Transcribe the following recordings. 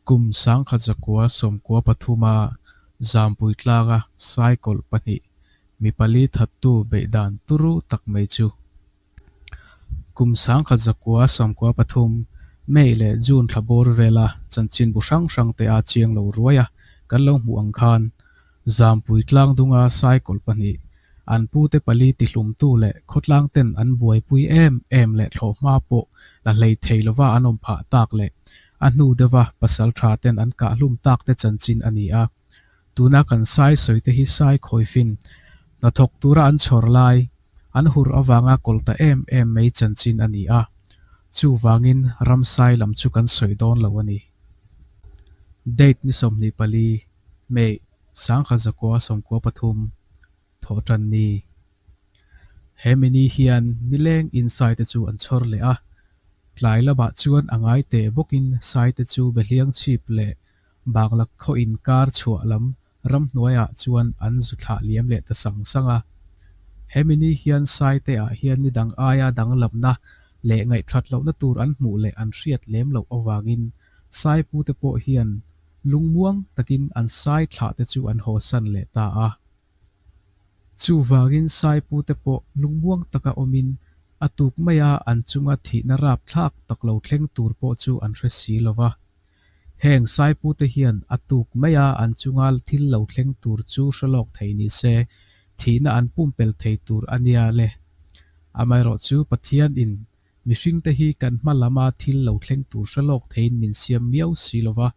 Kum sangkhat zakua sawmkua pathuma zampui tlanga sai kawlh pahnih mi pali thattu beih dan turu tak mai chu. Kum sangkhat zakua sawmkua pathum May leh June thla bawr vela chanchinbu hrang hrangte a chiang lo ruaia kan lo hmuh ang khan, Zampui Tlangdunga sai kawl pahnih, an pute pali tihlumtu leh khawtlang ten an buaipui em em leh thlawh hma pawh la hlei thei lova an awm phah tak leh a hnu deuhva pasal tha ten an kah hlum tak te chanchin a ni a. Tuna kan sai sawi te hi sai khawifin hnathawk tura an chhawr lai, an hur avanga kawl ta em em mai chanchin a ni a. Chuvangin ram sai lam chu kan sawi dawn lo a ni. Date ni sawmhnih pali. Mei, Sangkhat Zakuaw Sawmkua Pathum, Thawhtan ni. He mini hian nileng in saite chu an chhawr leh a, tlai lamah chuan a ngai teh bawkin saite chu Behliang chhip leh Banglak khaw in kar chhuah lam ramhnuaiah chuan an zu thlah liam leh ta sang sang a. He mini hian saite ah hian ni dang aia danglamna leh ngaihthlat lohna tur an hmuh leh an hriat lem loh avangin Sai pu te pawh hian lungmuang takin an sai thlah te chu an haw san leh ta a. Chuvangin sai pu te pawh lungmuang taka awmin a tuk maia an chunga thihna rapthlak tak lo thleng tur pawh chu an hre si lo va. Heng sai pu te hian a tuk maia an chunga thil lo thleng tur chu hre lawk thei ni se, thihna an pumpel thei tur a nia le. Amaherawhchu Pathianin Mihringte hi kan hma lama thil lo thleng tur hre lawk theiin min siam miau si lo va,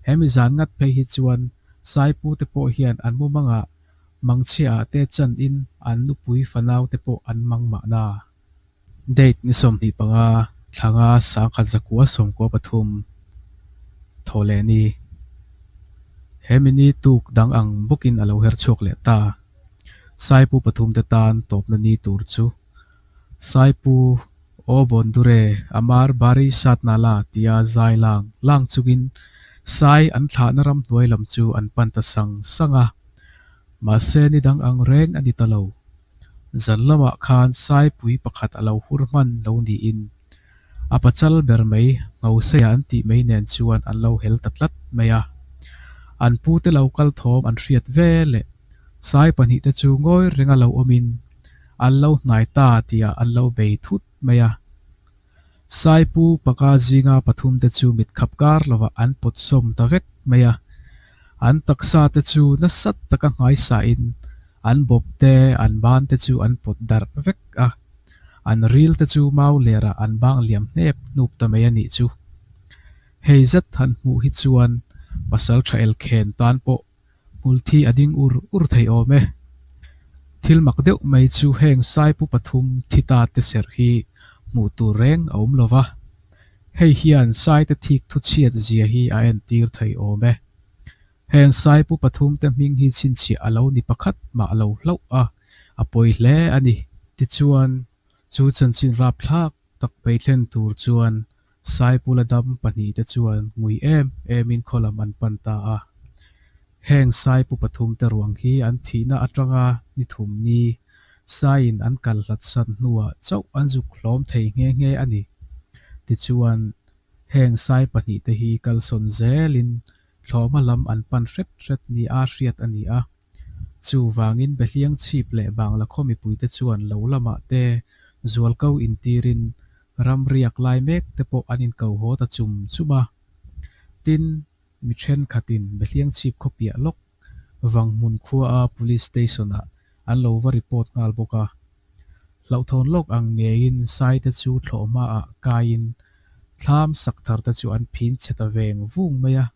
hemi zan ngat phei hi chuan Saipu te pawh hian an mu mang a, Mangchhia ah te chan in an nupui fanau te pawh an mang mah na. Date ni sawmhnih panga thlanga sangkhat zakua sawmkua pathum thaw leh ni hemi ni tuk dang ang bawkin a lo her chhuak leh ta. Saipu pathum te tan tawpna ni tur chu Saipu, Aw bawn duh re, Amar Bari Satna la tia zai lang lang chungin Sai an thlahna ram hnuai lam chu an pan ta sang sang a. Mahse ni dang ang reng a ni ta lo. Zan lamah khan Saipui pakhat a lo hur hman lo niin a pachal ber mai Hmausaia an tih mai nen chuan an lo hel ta tlat mai a. An pute lo kal thawm an hriat ve leh. Sai pahnih te chu ngawi renga lo awmin an lo hnai ta tia an lo bei thut mai a. Sai pu paka zinga pathum te chu mit khap kar lovah an pawt sawm ta vek mai a. An taksa te chu nasat taka hmaisa in an bawp te an ban te chu an pawt darh vek a. An ril te chu mau lerah an bang liam hnep hnup ta mai a nih chu. Hei zet han hmuh hi chuan pasal tha el khen tan pawh hmulthi a ding ur ur thei awm e. Thil mak deuh mai chu heng Saipu pathum thi ta te serh hi hmuh tur reng a awm lo va, hei hian Saite thik thuchhiat zia hi a entir thei awm e. Heng Saipu pathum te hming hi chhinchhiah a lo ni pakhat mah lo hlauh a, a pawi hle a ni. Tichuan, chu chanchin rapthlak Takpei thlen tur chuan Saipula dam pahnih te chuan ngui em em in khaw lam an pan ta a. Heng Saipu pathum te ruang hi an thihna atanga ni thum ni Sai in an kal hlat sat hnu ah chauh an zuk hlawm thei nghe nghe a ni. Ti chuan Heng Sai pahnih te hi kalsawn zel in thlawma lam an pan hret hret ni a hriat a ni a. Chuvangin Behliang chhip leh Banglakhua mipuite chuan lo lamah te zual ko in tirin ram riak lai mek te pawh an in ko haw ta chum chum a. Tin, mi thenkhatin Behliang chhip khawpiah lawk Vanghmun khuaa Police Station ah an lo va report nghal bawk a. Hlauhthawn lawk ang ngeiin saite chu thlawh hmaah kaiin thlam sak thar te chu an phin chhe ta veng vung mai a.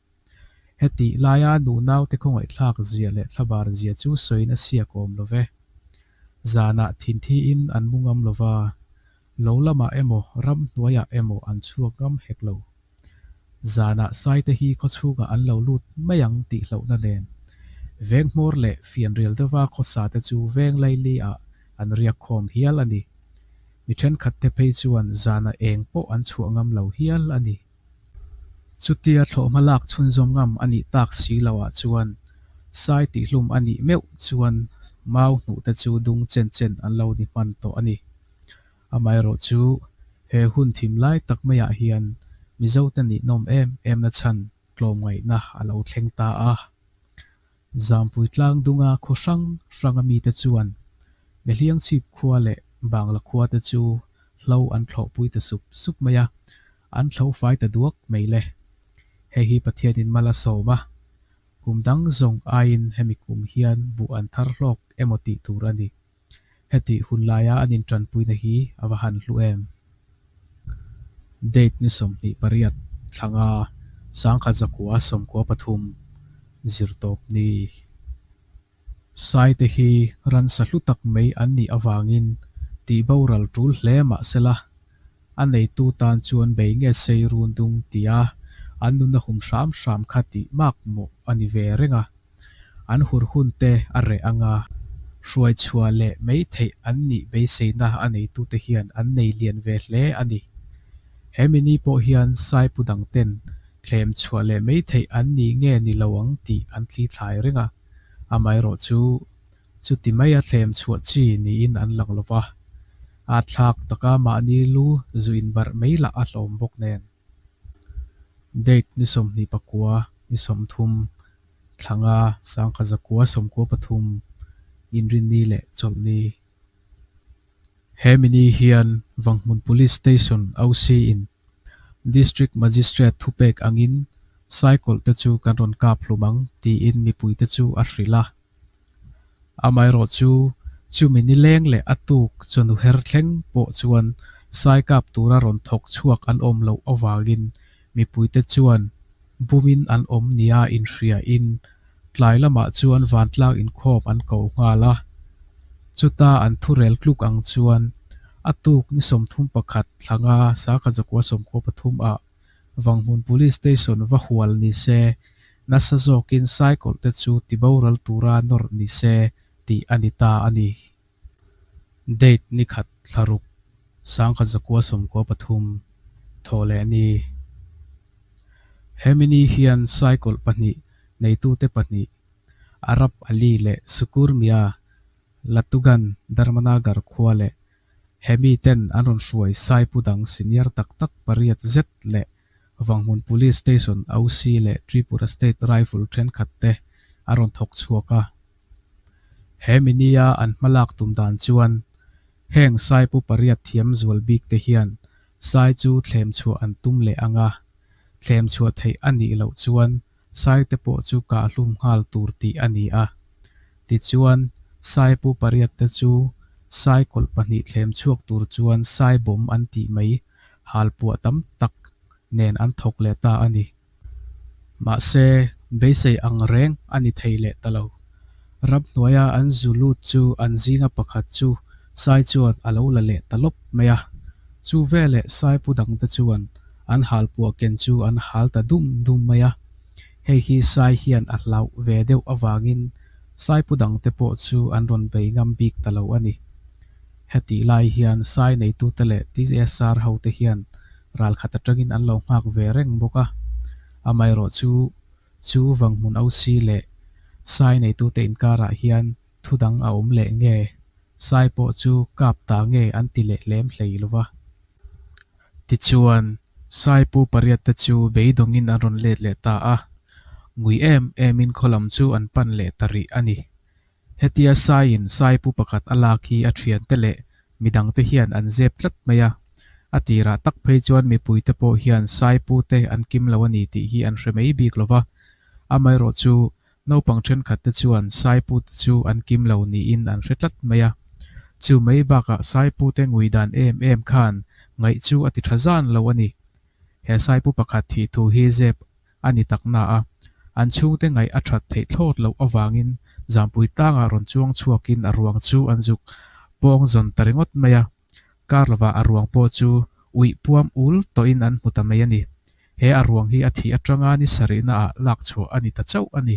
Hetih laia nunaute khawngaihthlak zia leh thlabar zia chu sawiin a siak awm lo ve. Zanah thinthiin an mu ngam lova, lo lamah emaw ram hnuaiah emaw an chhuak ngam hek lo. Zanah saite hi khawchhungah an lo lut mai ang tih hlauhna nen, venghmawr leh fianrial deuhva khawsate chu veng laili ah an riak khawm hial a ni. Mi thenkhatte phei chuan zanah eng pawh an chhuah ngam lo hial a ni. Chutia thlawh hmalak chhunzawm ngam a nih tak si lo ah chuan sai tih hlum a nih meuh chuan mau hnuh te chu dung chen chen an lo ni hman tawh a ni. Amaherawh chu he hun thim lai tak mai ah hian Mizote nihnawm em emna chhan tlawmngaihna a lo thleng ta a. Zampui Tlangdunga khaw hrang hranga mite chuan Mehliang chhip khua leh Bangla khuate chu hlo an thlawhpui ta sup sup mai a, an hlo fai ta duak mai le. Hei hi Pathianin mal a sawm a, kum dang zawng aiin hemi kum hian buh an thar hlawk emaw tih tur a ni. Hetih hun laia an intranpuina hi a va han hlu em? Date ni sawmhnih pariat thlanga sangkhat zakua sawmkua pathum zirtawp ni. Saite hi ransa hlu tak mai an nih avangin tihbo ralṭul hle mah sela, a neitu tan chuan bei nge sei run dung tia an nun a hum hram hram kha tih mak mawh a ni ve reng a, an hur hun te a reh ang a, hruai chhuah leh mei theih an nih beiseina a neitu te hian an nei lian ve hle a ni. He mini pawh hian saipu dang ten thlem chhuah leh mei theih an nih nge ni lo ang tih an thlithlai reng a, amaherawhchu Chuti mai a thlem chhuah chi niin an lang lo va, aa thlak taka mahni lu zu inbarh mai lah a hlawm bawk nen. Date ni sawmhnih pakua, ni sawmthum, thlanga, sangkha zakua, sawmkua pathum, inrinni leh chawlhni. He mini hian Vanghmun Police Station OC in District Magistrate thupek angin saikawlhte chu kan rawn kap hlum ang tiin mipuite chu a hrilh a. Amaherawh chu, chumi ni leng leh a tuk chawnu her thleng pawh chuan saikap tura rawn thawk chhuak an awm loh avangin mipuite chuan bumin an awm nia inhriain tlai lamah chuan vantlak inkhawm an ko nghal a. Chuta an thurel tluk ang chuan a tuk ni sawmthum pakhat thlanga Sakha Jokuasawmkhua pathum ah, Vanghmun Police Station va hual ni se, nasa zawkin cycle te chu ti boral tura nawrh ni se tih a ni ta a ni. Date ni khat thlaruk, sangkhat zakua sawmkua pathum, thaw leh ni. He mini hian cycle pahnih neitute pahnih, Arab Ali leh Sukur Mia, Latugan, Dharmanagar khua leh Hemi ten an rawn hruai sai pu dang senior tak tak pariat zet leh Vanghmun Police Station OC leh Tripura State Rifle thenkhat te a rawn thawk chhuak a. He mini a an hma lak tum dan chuan heng sai pu pariat thiam zual bik te hian sai chu thlem chhuah an tum leh ang a, thlem chhuah theih a nih loh chuan Sai te pawh chu kah hlum nghal tur tih a ni a. Tichuan, Sai pu pariat te chu Sai kawlh pahnih thlem chhuak tur chuan Sai bawm an tih mai, hal puah tam tak nen an thawk leh ta a ni. Mahse, beisei angreng a ni thei leh ta lo. Ramhnuaia an zu lut chu an zinga pakhat chu Sai chuan a lo la leh ta lawp mai a. Chu veleh Sai pu dang te chuan an hal puah ken chu an hal ta dum dum mai a. Hei hi Sai hian a hlauh ve deuh avangin Sai pu dang te pawh chu an rawn bei ngam bik ta lo a ni. Hetih lai hian Sai neitute leh tsr hote hian ral khat atangin an lo nghak ve reng bawk a. Amairawh chu Chu vang hmun Ausi leh Sai neitute inkarah hian thudang a awm leh nge? Sai pawh chu kap ta nge an ti leh hlem hlei lova. Tichuan, Sai pu pariat te chu beidawngin an rawn let leh ta a, ngui em emin khaw lam chu an pan leh ta rih a ni. Hetia saiin saipu pakhat a lak hi a thiante leh midangte hian an zep tlat mai a, a ti rah tak phei chuan mipuite pawh hian saipute an kim lo a ni tih hi an hre mai bik lo va, amaherawh chu naupang thenkhatte chuan saipute chu an kim lo niin an hre tlat mai a, chu mai bakah saipute ngui dan em em khan ngaih chu a ti tha zan lo a ni. He saipu pakhat thih thu hi zep a ni tak na a, an chhungte ngaih a that theih thlawt loh avangin Zampui tangah rawn chuang chhuakin a ruang chu an zuk pawng zawn ta ringawt mai a. Kar lova a ruang pawh chu uih puam ul tawhin an hmu ta mai a ni. He a ruang hi a thih atanga ni sarihna ah lak chhuah a ni ta chauh a ni.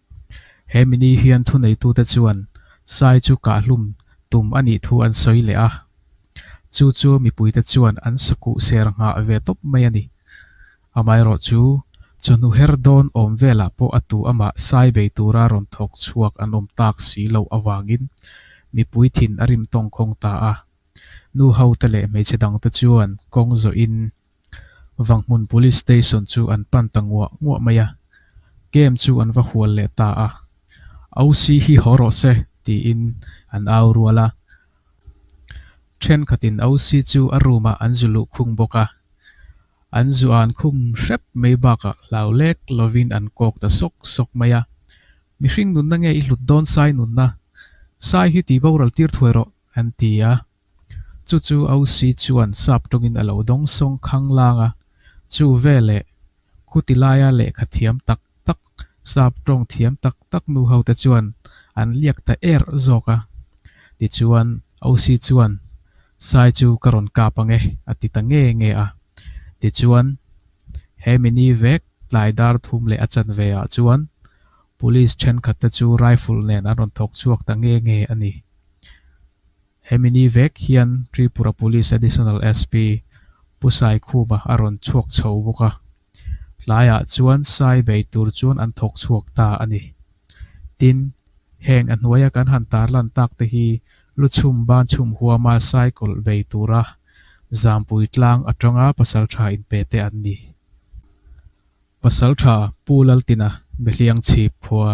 He mini hian thuneitute chuan sai chu kahhlum tum a nih thu an sawi leh a, chu chu mipuite chuan an sakuh ser nghah ve tawp mai a ni. Amaherawh chu, chawhnu her dawn awm velah pawh a tu amah sai bei tura rawn thawk chhuak an awm tak si loh avangin mipui thin a rim tawngkhawng ta a. Nu hote leh hmeichhe dangte chuan kawng zawhin, Vanghmun Police Station chu an pan ta nguah nguah mai a, kem chu an va hual leh ta a, OC hi haw rawh se tiin an au rual a. Thenkhatin OC chu a room-ah an zu luh khung bawk a, an zu an khum hrep mai bakah hlau lek lovin an kawk ta sawk sawk mai a, Mihring nunna nge i hlut dawn Sai nunna, Sai hi ti boral tir thuai rawh, an ti a. Chu chu Ausi chuan sap tawngin a lo dawng sawng khang lang a, chu veleh khutilaia lehkha thiam tak tak, sap tawng thiam tak tak nu ho te chuan an liak ta er zawk a. Tichuan Ausi chuan, Sai chu ka rawn kap ange, a ti ta nge nge a. Tichuan he mini vek tlai dar thum leh a chanve ah chuan Police thenkhat te chu rifle nen an rawn thawk chhuak ta nge nge a ni. Hemi ni vek hian Tripura Police Additional SP Pu Sai Khuma a rawn chhuak chho bawk a, tlaiah chuan sai bei tur chuan an thawk chhuak ta a ni. Tin, heng a hnuaia kan han tar lan tak te hi lu chhum ban chhum huama sai kawlh bei tura Zampui tlang atanga pasalṭha in pe te an ni. Pasalṭha Pu Laltina Mihliang chhip khua.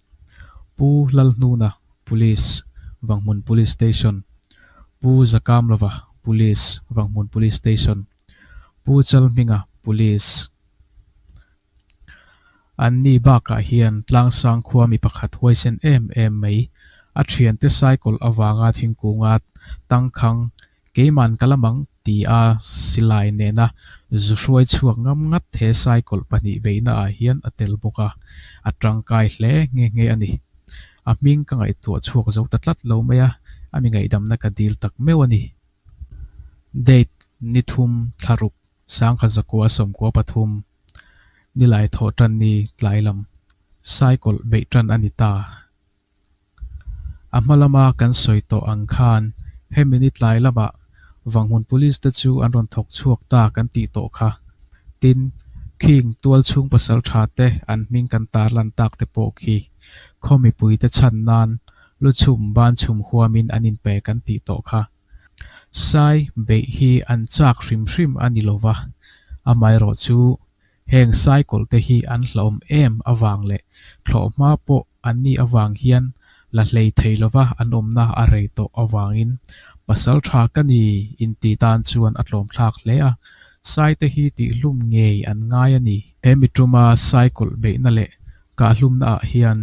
Pu Lalhnuna Police, Vanghmun Police Station, Pu Zakamlova Police, Vanghmun Police Station, Pu Chalhminga Police, an ni bakah hian Tlangsang khua mi pakhat huaisen em em mai a thiante cycle avanga thingkunga tangkhang Keiman ka la mang ti a silai nena zu hruai chhuak ngam ngat he cycle pahnih beihna ah hian a tel bawk a, a tangkai hle nge nge a ni. A hming ka ngaihtuah chhuak zo ta tlat lo mai a, a mi ngaihdamna ka dil tak meuh a ni. Date, Ni thum, Thlaruk, Sangha zakua sawmkua pathum, Nilai thawh tanni tlai lam, cycle beih tan a ni ta. A hma lama kan sawi tawh ang khan hemi ni tlai lamah Vanghmun Police te chu an rawn thawk chhuak ta kan tih tawh kha. Tin, Khing tual chhung pasal tha te an hming kan tar lan tak te pawh khi khaw mipui te chhan nan lu chhum ban chhum huamin an inpe kan tih tawh kha. Sai beih hi an chak hrim hrim a ni lova, amaherawhchu heng sai kawlh te hi an hlawm em avang leh thlawh hma pawh Annih avang hian la hlei thei lova an awmna a rei tawh avangin pasal tha ka ni inti tan chuan a tlawmthlak hle a. Saite hi tihhlum ngei an ngai a ni. He miṭuma sai kawlh beihna leh kahhlumna ah hian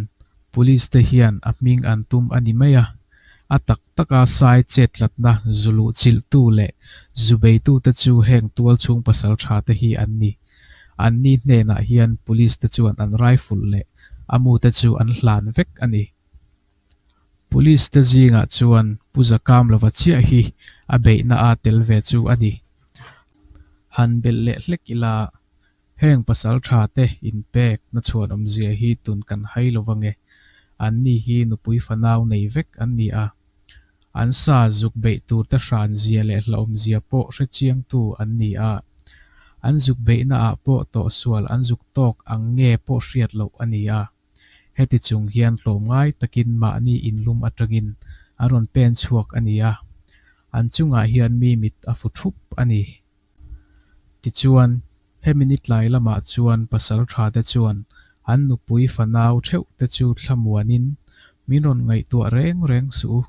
Police te hian a hming an tum a ni mai a. A tak taka sai chet tlatna zu luh chilh tu leh zu beitu te chu heng tual chhung pasal tha te hi an ni. Anni hnenah hian police te chuan an rifle leh a mu te chu an hlan vek a ni. Police te zingah chuan Pu Zakam lova chiah hi a beihna a tel ve chu a ni. Han belh leh hlek ila, heng pasal tha te in pek na chhuan awmzia hi tun kan hai lova nge, anni hi nupui fanau nei vek an ni a. An sa zuk beih tur te hran zia leh hlahawm zia pawh hrechiangtu an ni a, an zuk beihna ah pawh tawhsual an zuk tawk ang nge pawh hriat loh a ni a. Heti chung hian hlawm ngai takin mahni inlum atangin an rawn pen chhuak a ni a, an chungah hian mi mit a fu thup a ni. Tichuan, hemi ni tlai lamah chuan pasal tha te chuan an nupui fanau theuh te chu thla muanin, Min rawn ngaihtuah reng reng suh u,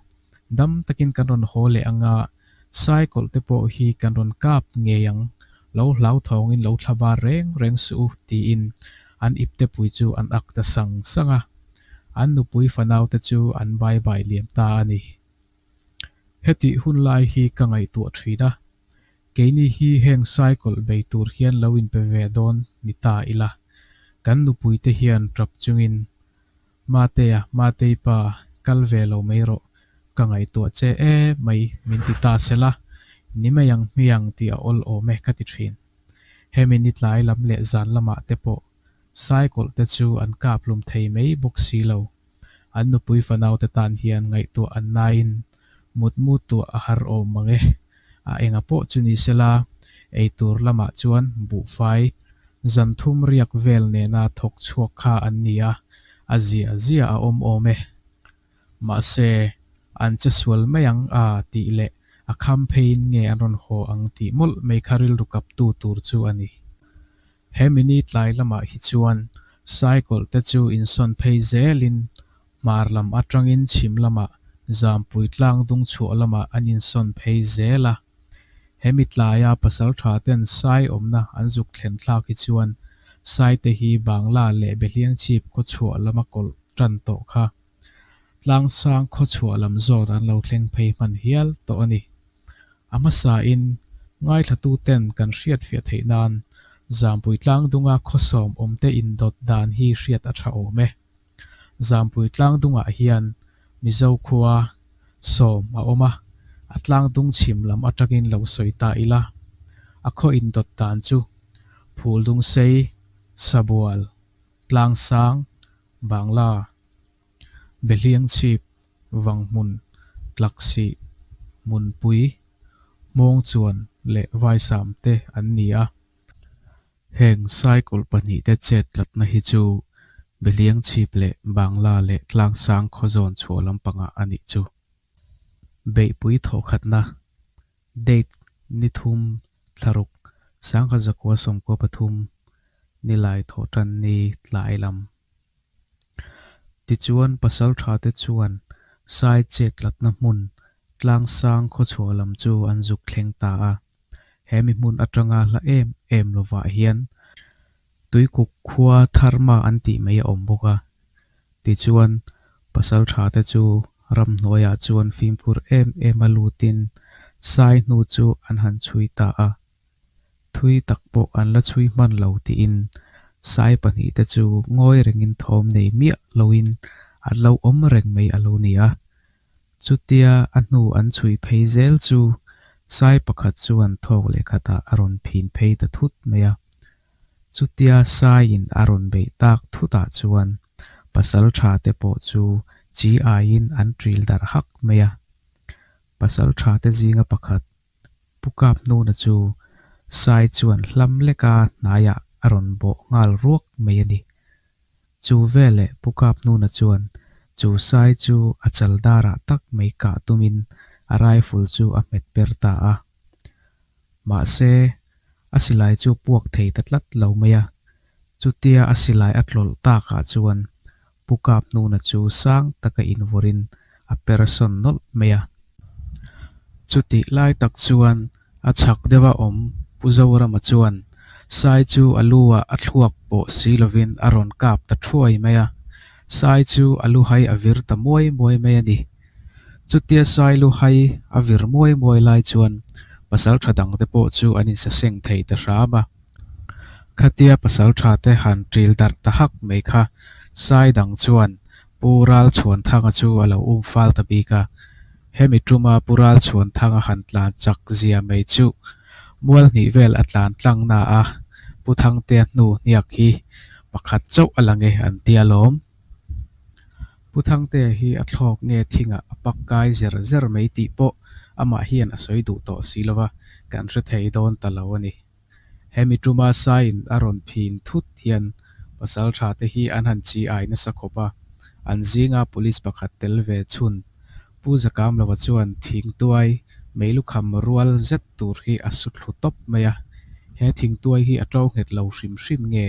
dam takin kan rawn haw leh anga, cycle te pawh hi kan rawn kap ngei ang, lo hlauthawngin lo thla bar reng reng suh u tiin an iptepui chu an ak ta sang sang a. An nupui fanau te chu an bai bai liam ta a ni. Hetih hun lai hi ka ngaihtuah thin a, keini hi heng cycle bei tur hian lo inpe ve dawn ni ta ila, kan nupui te hian tap chungin Mateya, Matei pa, kal ve lo mai rawh, ka ngaihtuah che e mai min ti ta se la, ni mai ang hmi ang tih a awlawm e ka ti thin. Hemi ni tlai lam leh zan lamah te pawh Cycle te chu an kaphlum thei mai bawk si lo. An nupui fanaute tan hian ngaihtuah an naiin mutmu tuah a har awm mang e. A enga pawh chu ni se la, eitur lamah chuan buhfai zan thum riak vel nena thawk chhuak kha an ni a, a ziah ziah a awm awm e. Mahse, an che sual mai ang a tih leh a kham pheiin nge an rawn haw ang tih mawlh mai kha rilru kaptu tur chu a ni. He mini tlai lamah hi chuan cycle te chu insawn phei zelin hmar lam atangin chhim lamah zampui tlang dung chhuah lamah an insawn phei zel a. Hemi tlaia pasal tha ten sai awmna an zuk thlen thlak hi chuan saite hi Bangla leh Behliangchip khawchhuah lama kawlh tan tawh kha Tlangsang khawchhuah lam zawt an lo thleng phei hman hial tawh a ni. A hmasa in ngaithla-tu ten kan hriat fiah theih nan Zampui Tlangdunga khawsawm awmte indawt dan hi hriat a tha awm e. Zampui Tlangdungah hian Mizo khua sawm a awm a, a Tlangdung chhim lam atang in lo sawi ta ila, a khaw indawt dan chu Phuldungsei, Sabual, Tlangsang, Bangla, Behliang chhip, vang hmun, tlak sih, hmun pui, hmawng chuan leh vaisam te an ni a. Heng cycle pahnih te chet tlatna hi chu Behliang chhip leh Bangla leh Tlangsang khaw zawn chhuah lampangah a nih chu. Beihpui thawhkhatna, Date, Ni thum, thlaruk, sangha zakua sawmkua pathum, ni lai thawh tan ni tlai lam. Tichuan pasaltha te chuan sai chek latna hmun tlang sang khawchhuah lam chu an zuk thleng ta a, he mi hmun atanga hla em em lovah hian Tuikuk khua tharma an tih mai a awm bawk a, tichuan pasal tha te chu ram hnuaiah chuan fimkhur em em a lutin sai hnu chu an han chhui ta a, thui tak pawh an la chhui hman lo tiin sai pahnih te chu ngawi rengin thawm nei miah loin an lo awm reng mai a lo ni a, Chutia a hnu an chhui phei zel chu sai pakhat chuan thawk leh khatah a rawn phin phei ta thut mai a. Chutia saiin a rawn beih tak thutah chuan pasal tha te pawh chu chi aiin an ṭil darh hak mai a. Pasal tha te zinga pakhat Pu Kap Nuna chu Sai chuan hlam leka hnaiah a rawn bawh nghal ruak mai a ni. Chu veleh Pu Kap Nuna chuan chu Sai chu a chal darah tak mai kah tumin a rifle chu a hmet ber ta a. Mahse, a silai chu puak thei ta tlat lo mai a. Chutia a silai a tlawlh takah chuan Pu Kap Hnuna chu sang taka invurin a per sawn nawlh mai a. Chutih lai tak chuan a chhak deuha awm Pu Zorama chuan Sai chu a luah a thluak pawh si lovin a rawn kap ta thuai mai a. Sai chu a lu hai a vir ta muai muai mai a ni. Chutia Sai lu hai a vir muai muai lai chuan pasal tha dangte pawh chu an insaseng thei ta hram a. Khatia pasal thate han ṭil darh ta hak mai kha sai dang chuan Pu Ralchhuanthanga chu a lo um fal ta bik a, hemi ṭuma Pu Ralchhuanthanga han tlan chak zia mai chu Mualhnih vel a tlan tlangna a Pu Thangtea hnu hniak hi pakhat chauh a la nge an ti alawm. Pu Thangtea hi a thlawk nge thingah a pak kai zer zer mai tih pawh amah hian a sawi duh tawh si lova kan hre thei dawn ta lo a ni. Hemi tuma saiin a rawn phing thut hian pasaltha te hi an han chi ai nasa khawp a, an zinga police pakhat tel ve chhun. Pu Zakamlova chuan thingtuai mei lukham rual zet tur hi a su thlu tawp mai a, he thingtuai hi a ṭo nghet lo hrim hrim nge?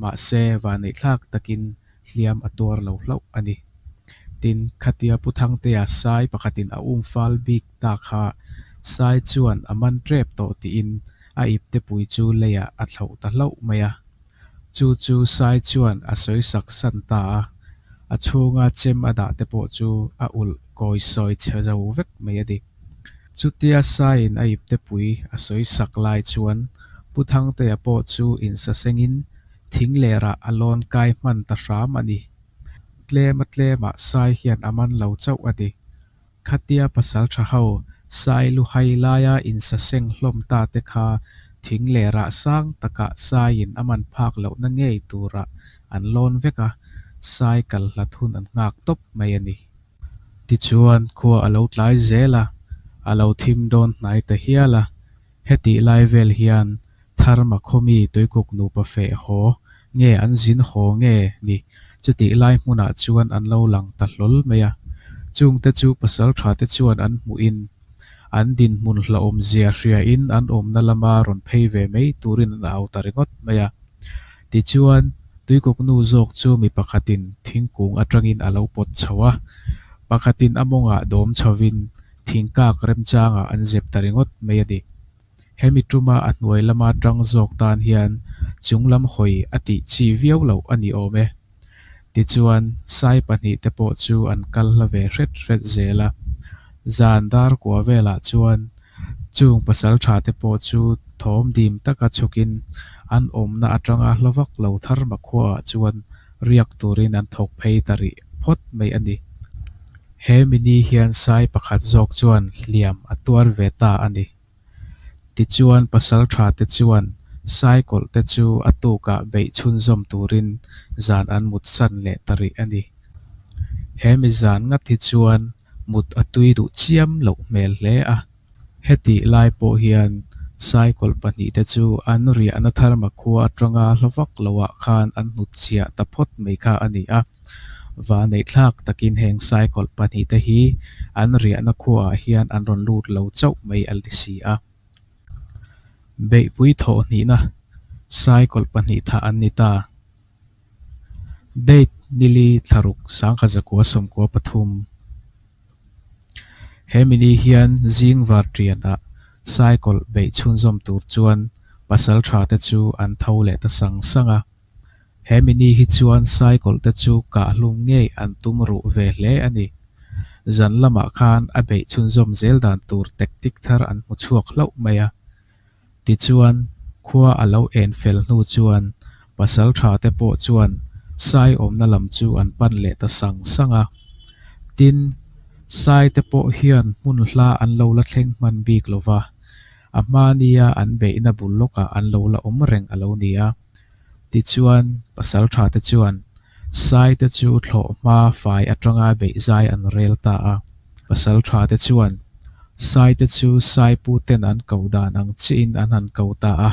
Mahse, vaneihthlak takin hliam a tuar lo hlauh a ni. Tin, khatia Pu Thangtea sai pakhatin a umfal bik ta kha sai chuan a man rep tawh tiin a iptepui chu leiah a thlauh ta hlauh mai a. Chu chu sai chuan a sawi sak san ta a, a chhunga chem a dah te pawh chu a ulh kawi sawi che zo vek mai a ni. Chutia saiin a iptepui a sawi sak lai chuan Pu Thangtea pawh chu insasengin Thing lerah a lawn kai hman ta hram a ni. Tlema tlemah sai hian a man lo chauh a ni. Khatia pasal tha ho sai lu hai laia insa seng hlawm ta te kha thing lerah sang takah saiin a man phak lohna ngei turah an lawn vek a, sai kal hlat hun an nghak tawp mai a ni. Tichuan khua a lo tlai zel a, a lo thim dawn hnai ta hial a. Hetih lai vel hian thar makhomi tuikuk nupa feh haw nge an zin haw nge ni chutih lai hmunah chuan an lo lang ta hlawl mai a. Chungte chu pasal tha te chuan an hmuhin an dinhmun hlahawm zia hriain an awmna lama rawn phei ve mai turin an au ta ringawt mai a. Tichuan, tuikuk nu zawk chu mi pakhatin thingkung atangin a lo pawt chho a, pakhatin a mawngah dawm chhovin thingkak remchangah an zep ta ringawt mai a ni. Hemi tuma a hnuai lama tang zawk tan hian chunglam hawi a tih chi viau loh a ni awm e. Tichuan, sai pahnih te pawh chu an kal hla ve hret hret zel a. Zan dar kua velah chuan chung pasal tha te pawh chu thawm dim taka chhukin an awmna atanga hla vak lo thar makhuaah chuan riak turin an thawk phei ta rih phawt mai a ni. He mini hian sai pakhat zawk chuan hliam a tuar ve ta a ni. Tichuan pasaltha te chuan sai kawlh te chu a tukah beih chhunzawm turin zan an mut san leh ta rih a ni. He mi zan ngat hi chuan mut a tui duh chiam loh hmel hle a. Hetih lai pawh hian saikawlh pahnih te chu an riahna tharma khua atanga hla vak lo ah khan an hnut chhiah ta phawt mai kha a ni a. Vanei thlak takin heng saikawlh pahnih te hi an riahna khua ah hian an rawn lut lo chauh mai a ti si a. Beihpui thawh hnihna saikawlh pahnih thah an ni ta. Date nili thlaruk sangkhat zakua sawmkua pathum he mini hian zing var tian ah saikawl beih chhunzawm tur chuan pasal tha te chu an tho leh ta sang sang a, he mini hi chuan saikawl te chu kah hlum ngei an tum ruh ve hle a ni. Zan lamah khan a beih chhunzawm zel dan tur tek tik thar an hmu chhuak hlauh mai a. Tichuan, khua a lo en fel hnu chuan pasaltha te pawh chuan sai awmna lam chu an pan leh ta sang sang a. Tin, sai te pawh hian hmun hla an lo la thleng hman bik lo va, a hmâ nia an beihna bul lawkah an lo la awm reng a lo ni a. Tichuan, pasal tha te chuan sai te chu thlawh hma fai atanga beihzai an rel ta a. Pasal tha te chuan sai te chu sai pu ten an ko dan ang chihin an han ko ta a.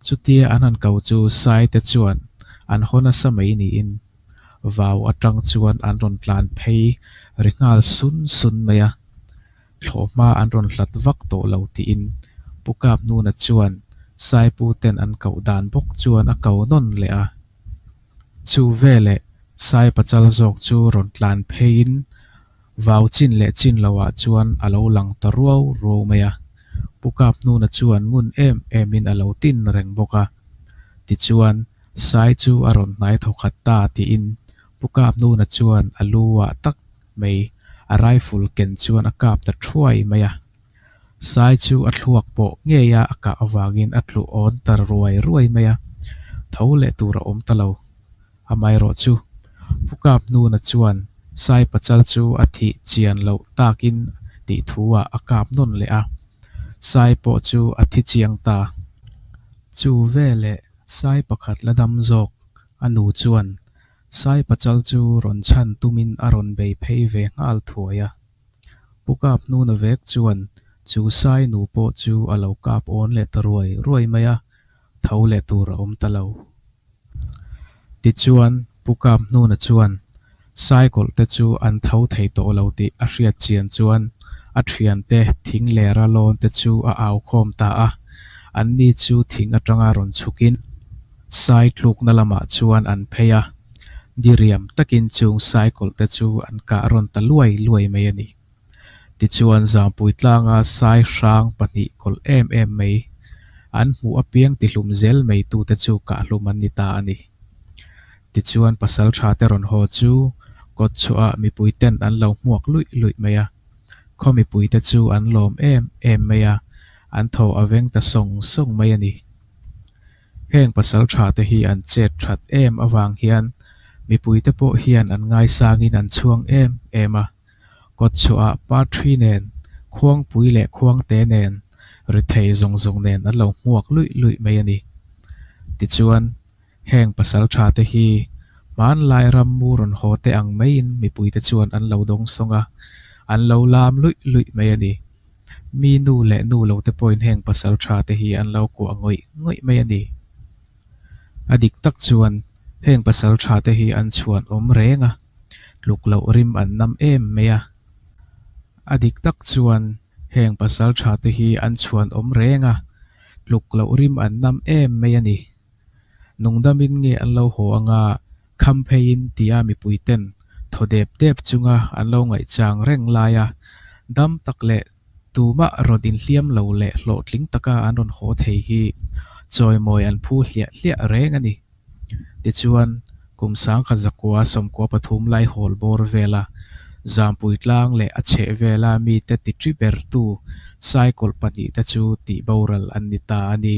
Chutia an han ko chu sai te chuan an haw nasa mai niin vau atang chuan an rawn tlan phei ri nghal sun sun mai a. thlawh hma an rawn hlat vak tawh lo tiin Pu Kap Nuna chuan Saipu ten an koh dan bawk chuan a kau nawn leh a. Chu veleh Sai pachal zawk chu rawn tlan pheiin vau chin leh chin lohah chuan a lo lang ta ruau ruau mai a. Pu Kap Nuna chuan ngun em emin a lo tin reng bawk a. Tichuan, Sai chu a rawn hnai tho khat ta tiin Pu Kap Nuna chuan a lu ah tak mai a rifle ken chuan a kap ta thuai mai a, sai chu a thluak pawh ngei a a kah avangin a tlu awn ta ruai ruai mai a, tho leh tur a awm ta lo, amaherawh chu pu kap hnuna chuan sai pachal chu a thih chian loh takin tih thu ah a kap nawn leh a, sai pawh chu a thi chiang ta. Chu veleh sai pakhat la dam zawk a nu chuan Sai Pachal chu rawn chhan tumin a rawn bei phei ve nghal thuai a. Pu Kap hnun a vek chuan chu Sai nu pawh chu a lo kap awn leh ta ruai ruai mai a, tho leh tur a awm ta lo. Tichuan, Pu Kap hnun a chuan Sai kawlh te chu an tho thei tawh lo tih a hriat chian chuan a thian te, thing leh ralawn te chu a au khawm ta a, anni chu thing atanga rawn chhukin. Sai tlukna lamah chuan an phei a, diriam takin chung sai kawlhte chu an kah rawn ta luai luai mai a ni. Tichuan Zangpui tlanga sai hrang pahnih kawlh em em mai an hmuh apiang tihlum zel mai tute chu kah hlum an ni ta a ni. Tichuan pasal tha te rawn haw chu kawt chhuahah mipuiten an lo hmuak luih luih mai a, khaw mipuite chu an lawm em em mai a, an thaw a veng ta sawng sawng mai a ni. Heng pasal thate hi an chet that em avang hian mipuite pawh hian an ngaisangin an chhuang em em a. Kawtchhuahah Parthi nen, Khuangpui leh Khuangte nen ri thei zawng zawng nen an lo hmuak luih luih mai a ni. Tichuan, heng pasal thate hi hmanlai ram mu rawn haw te ang maiin mipuite chuan an lo dawng sawng a, an lo lam luih luih mai a ni. mi nu leh nu lo te pawhin heng pasal tha te hi an lo kuah ngawih ngawih mai a ni. A dik tak chuan heng pasal tha te hi an chhuan awm reng a, tluk loh rim an nam em mai a. A dik tak chuan heng pasal tha te hi an chhuan awm reng a, tluk loh rim an nam em mai a ni. Nungdamin nge an lo haw anga kham pheiin tia mipuiten thaw dep dep chunga an lo ngaihchang reng lai a, dam tak leh tumah rawn inhliam lo leh hlawhtling taka an rawn haw thei hi chawimawi an phu hliah hliah reng a ni. Tichuan, kum sangkhat zakua sawmkua pathum lai hawl bawr vela Zampui tlang leh a chheh vela mite titri bertu cycle pahnihte chu tihboral an ni ta a ni.